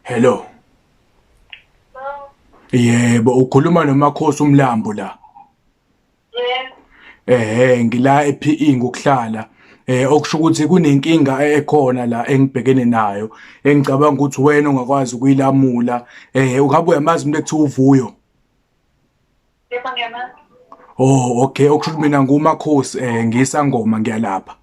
Hello. Yebo, ukhuluma noMakhosi uMlambo la. Yebo. Eh, ngila ePE ngokuhlala. eh okusho ukuthi kunenkinga ekhona la engibhekene nayo engicabanga ukuthi wena ungakwazi ukuyilamula eh ungabe uyamazi umuntu ekuthiwa uvuyo Yebo ngiyamazi. Oh okay okusho ukuthi mina ngumakhosi eh ngisangoma ngiyalapha.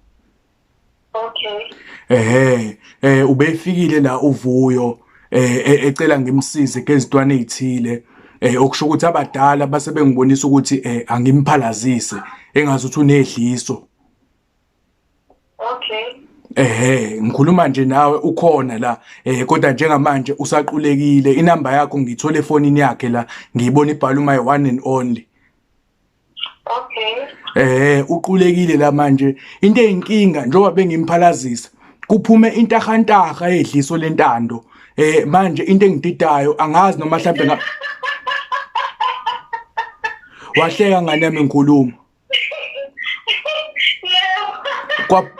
Okay. Eh eh ubefikile la uvuyo eh e-, ecela ngimsize kezintwana ezithile eh okusho ukuthi abadala base bengibonisa ukuthi eh angimphalazise engazi ukuthi unedliso. okay ehe ngikhuluma nje nawe ukhona la eh kodwa njengamanje usaqulekile inamba yakho ngiyithola efonini yakhe la ngiyibona ibhala my one and only okay eh uqulekile la manje into eyinkinga njengoba bengimphalazisa kuphume intahantaha edliso lentando eh manje into engididayo angazi noma mhlawumbe wahleka ngane yami ngikhuluma kwa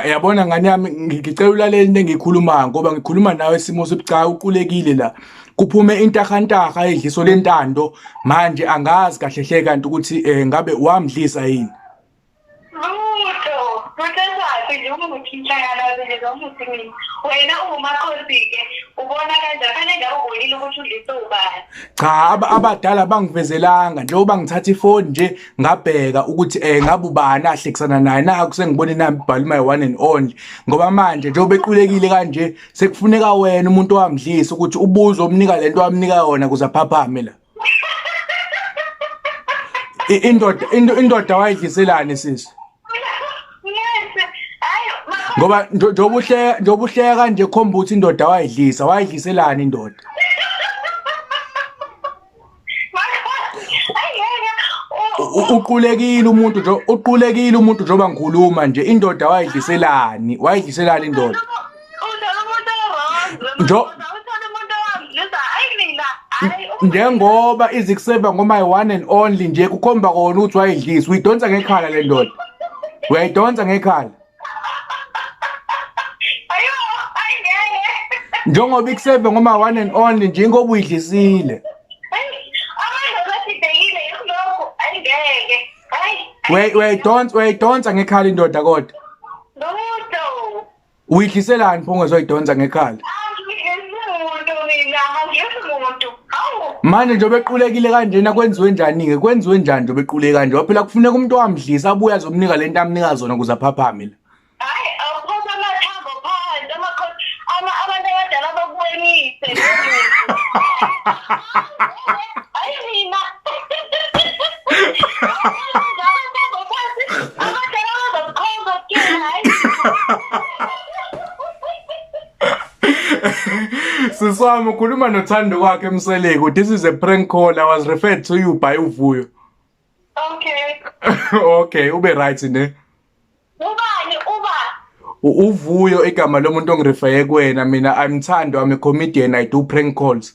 yabona ngane yami ngicela ulalele into engiyikhulumayo ngoba ngikhuluma nawe isimo sobucayi uqulekile la kuphume intahantaha edliso lentando manje angazi kahle hle kanti ukuthi eh, ngabe wamdlisa yini lutho luthethaphi nje umuthi mhlanganazinje zomuthi mina wena ungumakhosi-ke ubona kanje fanele ngabe ubonile ukuthi udlise ubani cha aba- abadala bangivezelanga njengoba ngithatha ifoni nje ngabheka ukuthi um ngabe ubani ahlekisana naye naku sengibona inamba ibhala my one and only ngoba manje njengoba equlekile kanje sekufuneka wena umuntu owamdlisa ukuthi ubuze omnika le nto wamnika yona kuze aphaphame la I- indoda indo- indoda wayidliselani sisi Ngeke. Hayi, ma- ngoba njo- njengoba uhleka njengoba uhleka kanje khomba ukuthi indoda wayidlisa wayidliselani indoda Hayi, ngeke. U- U- u- uqulekile umuntu nje uqulekile umuntu njengoba ngikhuluma nje indoda wayidliselani wayidliselani indoda Njo njengoba izikuseva ngoMy One and Only nje kukhomba kona ukuthi wayidlisa uyidonsa ngekhala le ndoda uyayidonsa ngekhala njengoba ikuseve ngoMy One and Only nje ingoba uyidlisile uyayidonsa uyayidonsa ngekhala indoda kodwa Uyidliselani pho ungezoyidonsa ngekhala? Manje nje obequlekile kanjena kwenziwe njani-ke kwenziwe njani nje obequleke kanje ngoba phela kufuneka umuntu owamdlisa abuye azomnika le nto amnika zona ukuze aphaphame la Hayi awukhona amathambo phansi amakhosi ama abantu abadala bakuwenise. Ay, Rina! Siswami ukhuluma nothando kwakhe emseleku. This is a prank call. I was referred to you by uvuyo. Okay. okay, ube right ne. Ubani uba? Uvuyo igama lomuntu ongirefeye kuwena mina I'm Thando I'm a comedian I do prank calls.